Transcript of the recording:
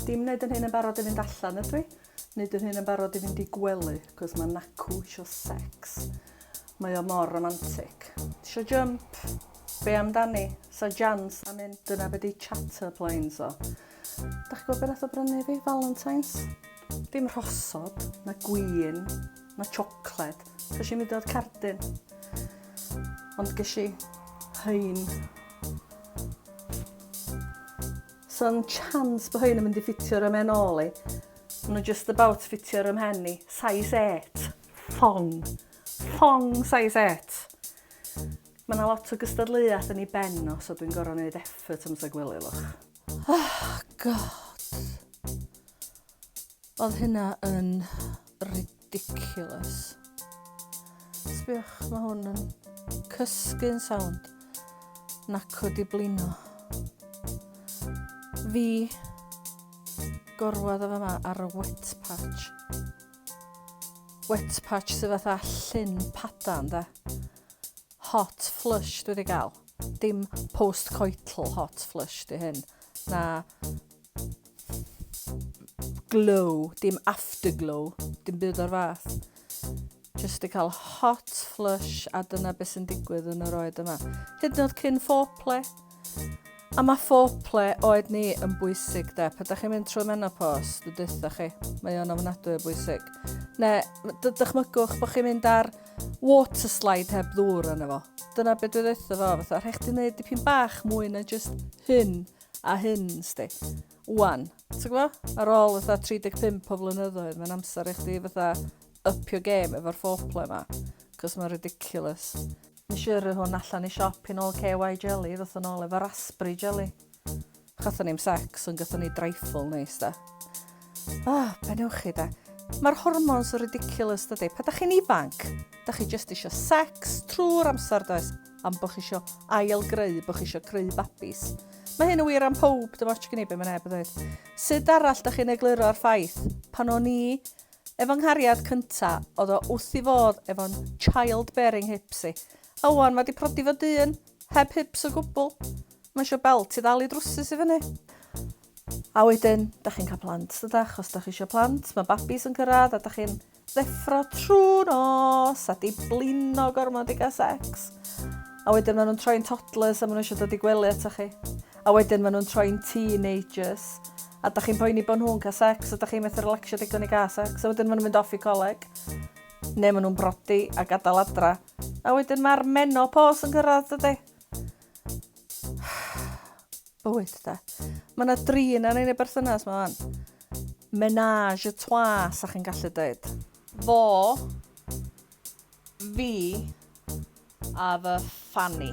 Dim wneud yn hyn yn barod i fynd allan ydw i. Wneud yn hyn yn barod i fynd i gwely, cos mae Nacw isio sex. Mae o mor romantic. Isio jump? Be amdani? Sa jans am un? Dyna be di chatter planes o. Da chi gwybod beth nath o brynu fi? Valentine's? Dim rhosod, na gwin, na chocolate. So eisiau mynd o'r cardyn. Ond ges i hyn. So'n chance bod hyn yn mynd i ffitio'r ymen ôl i. Nhw just about ffitio'r ymhen i. Size 8. Thong. Thong size 8. Mae yna lot o gystadleuaeth yn ei ben o, so dwi'n gorau wneud effort am sag wylio, look. Oh, God. Oedd hynna yn ridiculous. Sbiwch, mae hwn yn cysgu'n sound. Naco di blino. Fi gorwad o fe yma ar y wet patch. Wet patch sydd fatha llun padan, da. Hot flush dwi wedi gael. Dim post-coital hot flush di hyn. Na glow, dim afterglow, dim byd o'r fath. Just i cael hot flush a dyna beth sy'n digwydd yn yr oed yma. Hyd yn oed cyn foreplay. A mae foreplay oed ni yn bwysig de. Pe da chi'n mynd trwy menopos, dwi'n dweud chi, mae o'n ofnadwy o bwysig. Ne, dychmygwch bod chi'n mynd ar water slide heb ddŵr yna fo. Dyna beth dwi'n dweud fo, fatha, rhaid chdi wneud dipyn bach mwy na just hyn a hyn, sdi. Wan. Ti'n gwbo? Ar ôl fatha 35 o flynyddoedd, mae'n amser i chdi fatha up your game efo'r foreplay ma. Cos mae'n ridiculous. Nes i yrru hwn allan i siop i nôl KY jelly, ddoth yn ôl efo raspberry jelly. Chathon ni'm sex, ond gathon ni dreifl neis da. Ah, be newch chi da? Mae'r hormones yn ridiculous dydy. Pa da chi'n ifanc, da chi just eisiau sex trwy'r amser does? am bod chi isio ail-greu, bod chi isio creu babis. Mae hyn yn wir am pob, dim ots gen i be mae neb yn dweud. Sut arall da chi'n egluro ar ffaith pan o'n i efo nghariad cynta oedd o wrth i fodd efo'n child-bearing hips i. A wan mae di prodi fo dyn, heb hips o gwbl. Mae eisiau belt i ddal i drwsus i fyny. A wedyn, da chi'n cael plant, dyda, achos da chi eisiau plant, mae babis yn cyrraedd a da chi'n Deffro trwy nos a di blino gormod i gael sex. A wedyn maen nhw'n troi'n toddlers a maen nhw eisiau dod i gwely ato chi. A wedyn maen nhw'n troi'n teenagers. A da chi'n poeni bod nhw'n cael sex a da chi'n methu relaxio digon i gael sex. A wedyn maen nhw'n mynd off i coleg. Neu maen nhw'n brodi a gadael adra. A wedyn mae'r menopos yn gyrraedd dydy. Wyt de. Mae yna drin ar ein y berthynas mae fan. Menage a trois, sa chi'n gallu dweud. Fo, fi, a fy fanny.